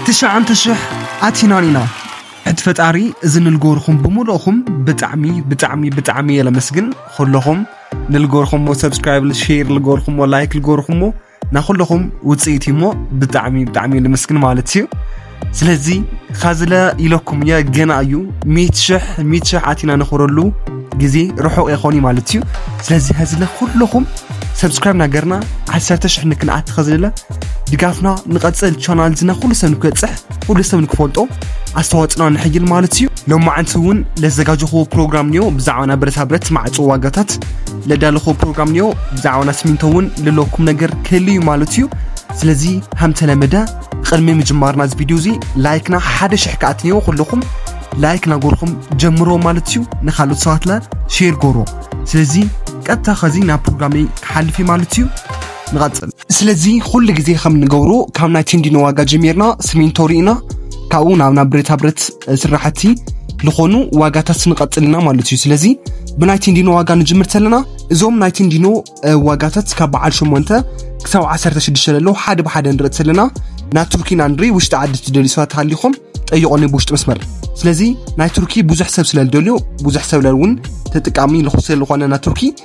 ትሽዓንተ ሽሕ ኣቲናን ኢና ሕቲ ፈጣሪ እዚ ንልጎርኹም ብምልእኹም ብጣዕሚ ብጣዕሚ ብጣዕሚ እየ ለመስግን ኹለኹም ንልጎርኹሞ ሰብስክራይብ ሼር ልጎርኹሞ ላይክ ልጎርኹሞ ናኹለኹም ውፅኢት እዩሞ ብጣዕሚ ብጣዕሚ እየ ለመስግን ማለት እዩ ስለዚ ካዝለ ኢለኩም እየ ገና እዩ ሚት ሽሕ ሚት ሽሕ ኣቲና ነኽብረሉ ግዜ ርሑቕ የኾን እዩ ማለት እዩ ስለዚ ከዝለ ኩለኹም ሰብስክራይብ ናገርና ዓሰርተ ሽሕ ንክንኣቲ ከዝለ ድጋፍና ንቐጽል ቻናል ዝና ኩሉ ሰብ ንክበጽሕ ኩሉ ሰብ ንክፈልጦ ኣስተዋጽና ንሕይል ማለት እዩ ሎማዓንቲ እውን ለዘጋጀኹዎ ፕሮግራም ኒዮ ብዛዕባና ብረታ ብረት ማዕጾ ዋጋታት ለዳለኹ ፕሮግራም ኒዮ ብዛዕባና ስሚንቶ እውን ልለኩም ነገር ክህል እዩ ማለት እዩ ስለዚ ሃምተለመደ ቕድሚ ምጅማርና እዚ ቪድዮ እዚ ላይክና ሓደ ሽሕ ከኣት ኒዮ ኩልኹም ላይክ ናጎርኹም ጀምሮ ማለት እዩ ንካልኦት ሰባትና ሼር ጎሮ ስለዚ ቀጥታ ኸዚ ናብ ፕሮግራመይ ክሓልፍ እዩ ማለት እዩ ንቐጽል። ስለዚ ኩሉ ግዜ ከም ንገብሮ ካብ ናይ ቴንዲኖ ዋጋ ጀሚርና ስሚንቶ ርኢና ካብኡ ናብ ናብ ብረታ ብረት ስራሕቲ ዝኾኑ ዋጋታት ንቐጽል ኢና ማለት እዩ ስለዚ ብናይ ቴንዲኖ ዋጋ ንጅምር ተለና እዞም ናይ ቴንዲኖ ዋጋታት ካብ በዓል 8 ክሳብ 16 ዘለዉ ሓደ ብሓደ ንርኢ ተለና ናይ ቱርኪ ኢና ንርኢ ውሽጢ ዓዲ ትደልዩ ሰባት ሃሊኹም ጠይቆኒ ብውሽጢ መስመር ስለዚ ናይ ቱርኪ ብዙሕ ሰብ ስለ ዝደልዮ ብዙሕ ሰብ እውን ተጠቃሚ ልኹ ስለ ዝኾነ ናይ ቱርኪ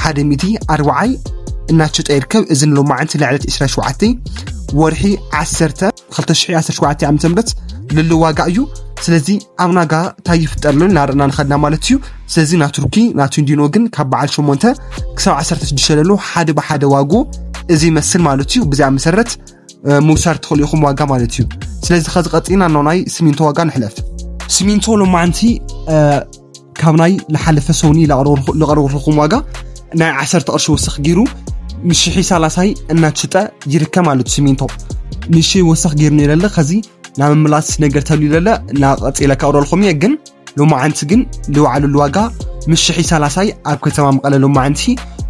ሓደ ሚእቲ ኣርብዓይ እናሸጠ ይርከብ። እዚ ንሎማዕንቲ ልዕለት ዕስራ ሸውዓተ ወርሒ ዓሰርተ ክልተ ሽሕ ዓሰርተ ሸውዓተ ዓመተ ምህረት ልሉ ዋጋ እዩ። ስለዚ ኣብ ናጋ እንታይ ይፍጠር ሎ እናርና ንኸድና ማለት እዩ። ስለዚ ና ቱርኪ ናቱ እንዲኖ ግን ካብ በዓል ሸሞንተ ክሳብ ዓሰርተ ሽዱሽተ ለሎ ሓደ ብሓደ ዋጉ እዚ ይመስል ማለት እዩ። ብዚኣ መሰረት ምውሳድ ትኽእሉ ኢኹም ዋጋ ማለት እዩ። ስለዚ ከዚ ቀጺና ኖናይ ስሚንቶ ዋጋ ንሕለፍ። ስሚንቶ ሎማዕንቲ ካብ ናይ ዝሓለፈ ሰውኒ ዝቐረብኹም ዋጋ ናይ ዓሰርተ ቅርሺ ወስኽ ገይሩ ንሽሒ ሳላሳይ እናትሽጠ ይርከብ ማለት ሲሚንቶ ንሽ ወስኽ ገይሩ ነይረለ ከዚ ናብ ምላስ ነገር ተልዩ ለለ ናቐፂለ ካብረልኩም እየ ግን ሎማዓንቲ ግን ዝወዓለሉ ዋጋ ምስ ሽሒ ሳላሳይ ኣብ ከተማ መቐለ ሎማዓንቲ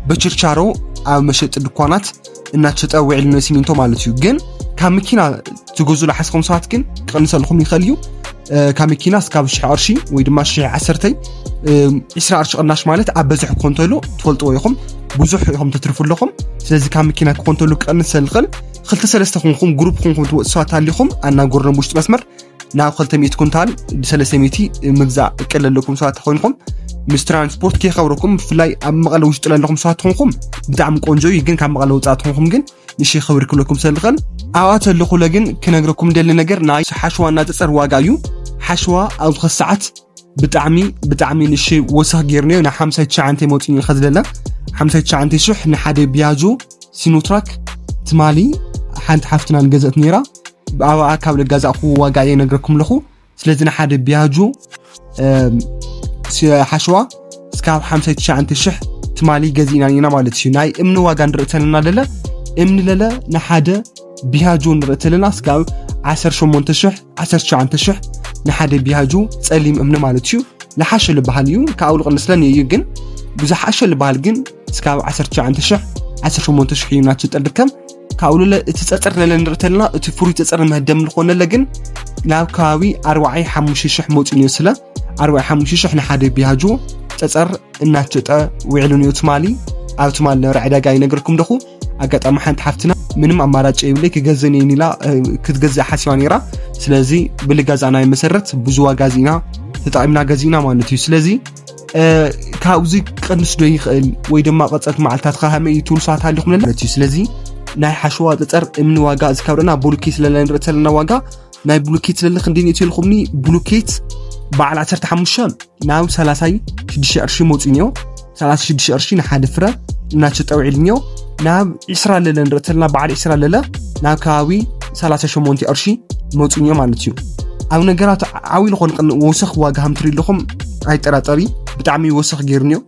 በችርቻሮ ኣብ መሸጢ ድኳናት እናተሸጠ ውዒል ንሲሚንቶ ማለት እዩ ግን ካብ መኪና ትገዙ ዝሓስኹም ሰባት ግን ክቕንሰልኩም ይኽእል እዩ ካብ መኪና እስካብ ሽሕ ቅርሺ ወይ ድማ ሽሕ ዓሰርተይ ዕስራ ቅርሺ ቅናሽ ማለት ኣብ በዝሒ ክኾን ተሎ ትፈልጥዎ ኢኹም ብዙሕ ኢኹም ተትርፉ ኣለኹም ስለዚ ካብ መኪና ክኾን ተሎ ክቕንስ ዝኽእል ክልተ ሰለስተ ኮንኩም ግሩፕ ኮንኩም ትወፅ ሰባት ኣሊኹም ኣናገርኖም ውሽጢ መስመር ናብ ክልተ ሚእቲ ኩንታል ብሰለስተ ሚእቲ ምግዛእ እቅድ ዘለኩም ሰባት ተኮይንኩም ምስ ትራንስፖርት ከይከብረኩም ብፍላይ ኣብ መቐለ ውሽጢ ዘለኹም ሰባት ትኾንኩም ብጣዕሚ ቆንጆ እዩ ግን ካብ መቐለ ውፃእ ትኾንኩም ግን ንሽ ክብሪ ክብለኩም ሰልኽል ኣብኣ ተለኹለ ግን ክነግረኩም ደሊ ነገር ናይ ሓሸዋ እናፀፀር ዋጋ እዩ ሓሸዋ ኣብ ዝኸ ሰዓት ብጣዕሚ ብጣዕሚ ንሽ ወሰኽ ጌርናዮ ን ሓምሳ ትሽዓንተ መፅኡ እዩ ከዝለለ ሓምሳ ትሽዓንተ ሽሕ ንሓደ ቢያጆ ሲኖትራክ ትማሊ ሓንቲ ሓፍትና ንገዘእት ነይራ ብኣባኣ ካብ ልጋዛእኹ ዋጋ እየ ነግረኩም ኣለኹ ስለዚ ንሓደ ቢያጁ ሓሸዋ እስካብ 59 ሽሕ ትማሊ ገዚእና ኢና ማለት እዩ ናይ እምኒ ዋጋ ንርኢ ተለና ለለ እምኒ ለለ ንሓደ ቢያጁ ንርኢ ተለና እስካብ 18 ሽሕ 19 ሽሕ ንሓደ ቢያጁ ፀሊም እምኒ ማለት እዩ ዝሓሸ ዝበሃል እዩ ካብ ኣውልቕ ንስለን እዩ ግን ብዝሓሸ ዝበሃል ግን እስካብ 19 ሽሕ 18 ሽሕ እዩ ናትሽጠ ድከም ካብኡ ለለ እቲ ፀፅር ለለ ንርኢ ተለና እቲ ፍሉይ ፀፅር መህደም ዝኾነለ ግን ናብ ከባቢ ኣርባዓይ ሓሙሽተ ሽሕ መፅኡ ነዮ ስለ ኣርባዓይ ሓሙሽተ ሽሕ ንሓደ ቢያጆ ፀፀር እናተሸጠ ውዒሉ ነዮ ትማሊ ኣብ ትማሊ ነበረ ዕዳጋ ይነገርኩም ደኹ ኣጋጣሚ ሓንቲ ሓፍትና ምንም ኣማራጭ የብለይ ክገዝእን እየን ኢላ ክትገዝእ ሓሲባ ነይራ ስለዚ ብልጋዛእናይ መሰረት ብዙ ዋጋ ዚና ተጠቒምና ገዚእና ማለት እዩ ስለዚ ካብዚ ክቀንስ ዶ ይኽእል ወይ ድማ ቀፀልቲ መዓልትታትካ ከመይ እዩ ትብሉ ሰባት ሃሊኹም ኣለና ማለት እዩ ስለዚ ናይ ሓሸዋ ፀፀር እምኒ ዋጋ እዚ ካብ ርና ብሉኬት ስለና ንርኢ ዘለና ዋጋ ናይ ብሉኬት ስለለ ክንደይ ንእትዩ ኢልኹምኒ ብሉኬት በዓል 15 ናብ 36 ቅርሺ መውፅእ እኒኦ 36 ቅርሺ ንሓደ ፍረ እናሸጠ ውዒል እኒኦ ናብ ዒስራ ለለ ንርኢ ተለና በዓል ዒስራ ለለ ናብ ከባቢ 38 ቅርሺ መፁን እዮም ማለት እዩ ኣብ ነገራት ዓብይ ዝኾነ ቅን ወሰኽ ዋጋ ከም ትርኢ ኣለኹም ኣይጠራጠሪ ብጣዕሚ ወሰኽ ገይሩን እዩ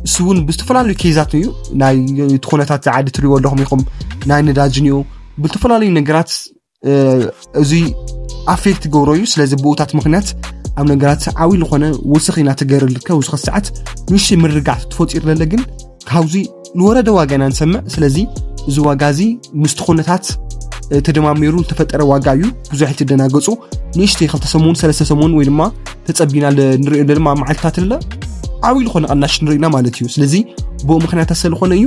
እሱ እውን ብዝተፈላለዩ ኬዛት እዩ ናይ እቲ ኩነታት ዓዲ ትሪእዎ ኣለኹም ኢኹም ናይ ነዳጅን እዩ ብዝተፈላለዩ ነገራት እዙይ ኣፌክት ገብሮ እዩ ስለዚ ብኡታት ምክንያት ኣብ ነገራት ዓብ ዝኾነ ውስኺ ናተገርልከ ውስኽ ሰዓት ንሽ ምርጋዕት ትፈፂሩ ለለ ግን ካብዙ ንወረደ ዋጋ ኢና ንሰምዕ ስለዚ እዚ ዋጋ እዚ ምስቲ ኩነታት ተደማሚሩ ዝተፈጠረ ዋጋ እዩ ብዙሕ ትደናገፁ ንእሽተ ክልተ ሰሙን ሰለስተ ሰሙን ወይ ድማ ተፀቢና ንሪኦ ድማ መዓልትታት ለ ዓብይ ዝኾነ ቐናሽ ንሪኢና ማለት እዩ ስለዚ ብኡ ምክንያት ስለዝኾነ እዩ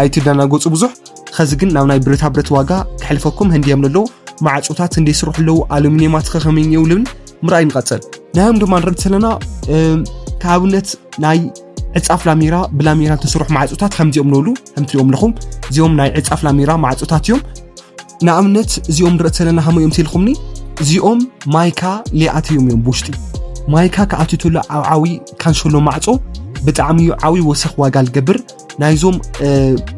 ኣይትደናገፁ ብዙሕ ኸዚ ግን ናብ ናይ ብረታ ብረት ዋጋ ክሕልፈኩም ህንድዮም ለሎ ማዕፆታት ህንዲ ይስርሑ ኣለዉ ኣሉሚኒየማት ኸኸመይ እኒየው ልብል ምርኣይ ንቐፅል ናዮም ድማ ንርኢ እንተለና ከኣብነት ናይ ዕፃፍ ላሜራ ብላሜራ ተሰርሑ ማዕፆታት ከምዚኦም ንብሉ ከም ትሪኦም ኣለኹም እዚኦም ናይ ዕፃፍ ላሜራ ማዕፆታት እዮም ንኣብነት እዚኦም ንርኢ ዘለና ከመይ እዮም ትልኹምኒ እዚኦም ማይካ ሊኣትዮም እዮም ብውሽጢ ማይካ ክኣትትሎ ኣብ ዓብዪ ካንሸሎ ማዕፆ ብጣዕሚ እዩ ዓብዪ ወሰኽ ዋጋ ዝገብር ናይዞም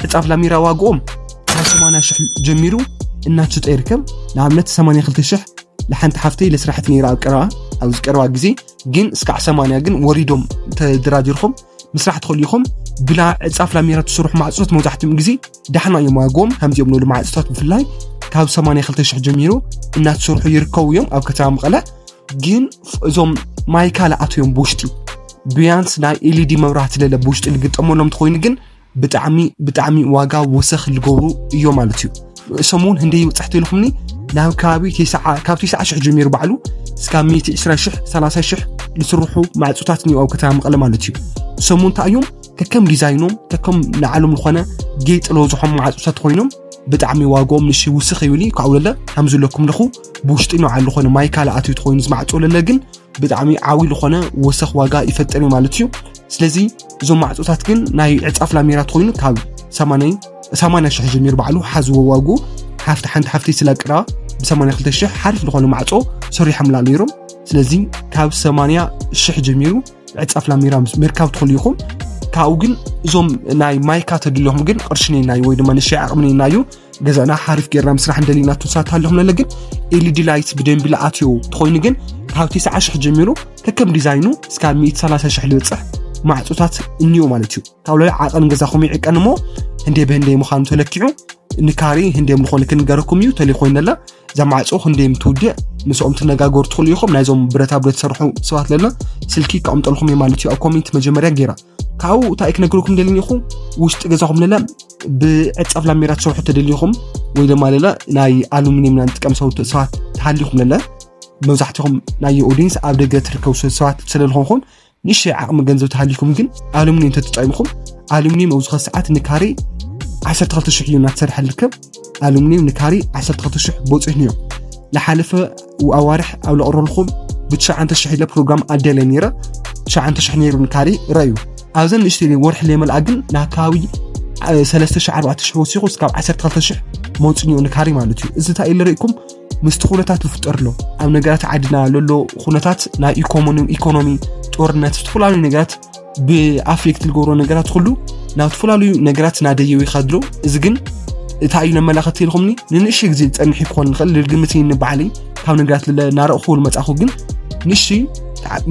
ዕፃፍ ላሚራ ዋግኦም ካብ 80 ሽሕ ጀሚሩ እናትሽጠ ይርከብ ንኣብነት 82 ሽሕ ንሓንቲ ሓፍተይ ለስራሕቲ ነይራ ኣብ ቀረባ ኣብዚ ቀረባ ግዜ ግን እስካዕ 80 ግን ወሪዶም ተደራዲርኩም ምስራሕ ትኽእሉ ኢኹም ብላ ዕፃፍ ላሚራ ትስርሑ ማዕፆት መብዛሕትኦም ግዜ ዳሕና እዮም ዋግኦም ከምዚኦም ንሉ ማዕፆታት ብፍላይ ካብ 82 ሽሕ ጀሚሩ እናትሰርሑ ይርከቡ እዮም ኣብ ከተማ መቐለ ግን እዞም ማይካ ለኣቱ እዮም ብውሽጢ ብያንስ ናይ ኤልዲ መብራህቲ ለለ ብውሽጢ ልግጠመሎም እንትኮይኑ ግን ብጣዕሚ ብጣዕሚ ዋጋ ወሰኽ ልገብሩ እዮ ማለት እዩ እሶም እውን ህንደይ ይብፅሕቲ ኢልኩምኒ ናብ ከባቢ ካብ ትስዓ ሽሕ ጀሚሩ ባዕሉ እስካብ 120 ሽሕ 30 ሽሕ ዝስርሑ ማዕፆታት እኒኦ ኣብ ከተማ መቐለ ማለት እዩ እሶም እውን እንታይ እዮም ከከም ዲዛይኖም ከከም ንዓሎም ዝኾነ ጌጥ ለወዝሖም ማዕፆታት ኮይኖም ብጣዕሚ ዋግኦም ንሽ ውስኽ ይብል እዩ ካብኡ ለለ ከምዝለኩም ለኹ ብውሽጢ ንባዓል ዝኾነ ማይ ካልእ ኣትዩ ተኾይኑ ዝማዕፆ ለለ ግን ብጣዕሚ ዓብዪ ዝኾነ ወሰኽ ዋጋ ይፈጥር እዩ ማለት እዩ ስለዚ እዞም ማዕፆታት ግን ናይ ዕፃፍ ላሜራ ተኾይኑ ካብ 80 ሽሕ ጀሚሩ ባዕሉ ሓዝዎ ዋጉ ሓፍቲ ሓንቲ ሓፍቲ ስላ ቅራ ብ82 ሽሕ ሓሪፍ ዝኾነ ማዕፆ ሰሪሖምላ ነይሮም ስለዚ ካብ 80 ሽሕ ጀሚሩ ዕፃፍ ላሜራ ምርካብ ትኽእሉ ኢኹም ካብኡ ግን እዞም ናይ ማይካ ተድልኹም ግን ቅርሺ ነናዩ ወይ ድማ ንሻ ዓቕሚ ነናዩ ገዛና ሓርፍ ጌርና ምስራሕ እንደሊና ትንሳት ኣለኹም ነለ ግን ኤልዲ ላይት ብደንቢ ለኣትዮ ተኾይኑ ግን ካብ 9 ሽሕ ጀሚሩ ከከም ዲዛይኑ እስካብ 130 ሽሕ ልበፅሕ ማዕፆታት እኒዮ ማለት እዩ ካብ ላዕሊ ዓቐን ገዛኹም ይዕቀን እሞ ህንዴ ብህንዴ ምዃኑ ተለኪዑ ንካሬ ህንዴ ምኾነ ክንገረኩም እዩ ተለይ ኮይነላ እዛ ማዕፆ ህንዴ ምትውድእ ምስኦም ትነጋገሩ ትኽእሉ ኢኹም ናይዞም ብረታ ብረት ዝሰርሑ ሰባት ለና ስልኪ ከቕምጠልኩም እዩ ማለት እዩ ኣብ ኮሜንት መጀመርያ ጌራ ካብኡ እንታይ ክነግረኩም ደልኒ ኢኹ ውሽጢ ገዛኹም ለለ ብዕፀፍ ላሜራ ትሰርሑ ተደሊኹም ወይ ድማ ለለ ናይ ኣሉሚኒየም ና ንጥቀም ሰውት ሰባት ተሃሊኹም ለለ መብዛሕትኹም ናይ ኦዲንስ ኣብ ደገ ትርከቡ ሰባት ስለዝኾንኹን ንእሽተይ ዓቕሚ ገንዘብ ተሃሊኩም ግን ኣሉሚኒየም ተተጠቂምኹም ኣሉሚኒየም ኣብዚ ኸ ሰዓት ንካሬ 12 ሽሕ እዩ እናተሰርሐ ዝርከብ ኣሉሚኒየም ንካሬ 12 ሽሕ ቦፂሕን እዮም ዝሓለፈ ኣዋርሕ ኣብ ለቕረልኹም ብትሸዓንተ ሽሕ ኢለ ፕሮግራም ኣደለ ነይረ ትሸዓንተ ሽሕ ነይሩ ንካሪ ረዩ ኣብዘን ንእሽተ ወርሒ ለመልኣ ግን ናብ ከባቢ ሰለስተ ሽሕ ኣርባዕተ ሽሕ ወሲኹ እስካብ ዓሰርተ ክልተ ሽሕ መውፅኒኡ ንካሪ ማለት እዩ እዚ እንታይ ኢለ ርኢኩም ምስቲ ኩነታት ዝፍጠር ኣሎ ኣብ ነገራት ዓድና ለሎ ኩነታት ናይ ኢኮኖሚ ጦርነት ዝተፈላለዩ ነገራት ብኣፍሊክት ዝገብሮ ነገራት ኩሉ ናብ ተፈላለዩ ነገራት ናደየው ይኸድሎ እዚ ግን እታ እዩ ነመላኸት ኢልኹምኒ ንንእሽ ግዜ ዝፀንሕ ክኾን ንኽእል ልግምት ንባዕለይ ካብ ነገራት ናረእኹ መፃኹ ግን ንእሽ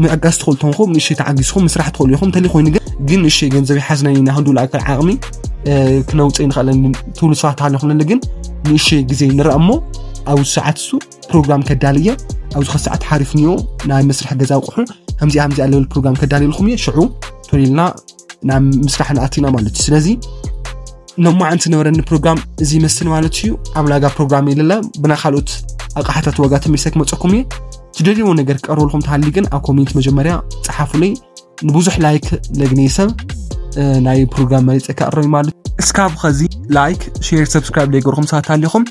ምዕጋዝ ትኽእሉ ተንኹም ንእሽ ተዓጊዝኹም ምስራሕ ትኽእሉ ኢኹም እንተለይ ኮይኑ ግን ግን ንእሽ ገንዘብ ይሓዝናይ ናክንዱ ልኣክል ዓቕሚ ክነውፅእ ንኽእል ትብሉ ሰባት ኣለኹም ግን ንእሽ ግዜ ንረእ እሞ ኣብ ሰዓት እሱ ፕሮግራም ከዳል እየ ኣብዚ ከሰዓት ሓሪፍኒዮ ናይ መስርሒ ገዛ ኣቑሑ ከምዚኣ ከምዚኣ ለብል ፕሮግራም ከዳልየልኩም እየ ሽዑ ቶሊልና ናብ ምስራሕ ንኣቲና ማለት እዩ ስለዚ ሎማዓንቲ ነበረኒ ፕሮግራም እዚ ይመስል ማለት እዩ ኣብ ላጋ ፕሮግራም የለለ ብና ካልኦት ኣቕሓታት ዋጋ ተመልሰ ክመፀኩም እየ ትደልይዎ ነገር ክቀርበልኩም ተሃሊ ግን ኣብ ኮሜንት መጀመርያ ፀሓፉለይ ንብዙሕ ላይክ ለግኔ ሰብ ናይ ፕሮግራም መሪፀ ክኣረሚ ማለት እስካብ ኸዚ ላይክ ሼር ሰብስክራይብ ዘይገርኹም ሰባት ሃሊኹም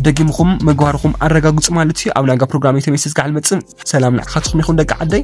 ደጊምኹም ምግባርኹም ኣረጋግፁ ማለት እዩ ኣብ ናጋ ፕሮግራም የተመይሰ ዝጋዓል መፅን ሰላም ንዓኻትኹም ይኹን ደቂ ዓደይ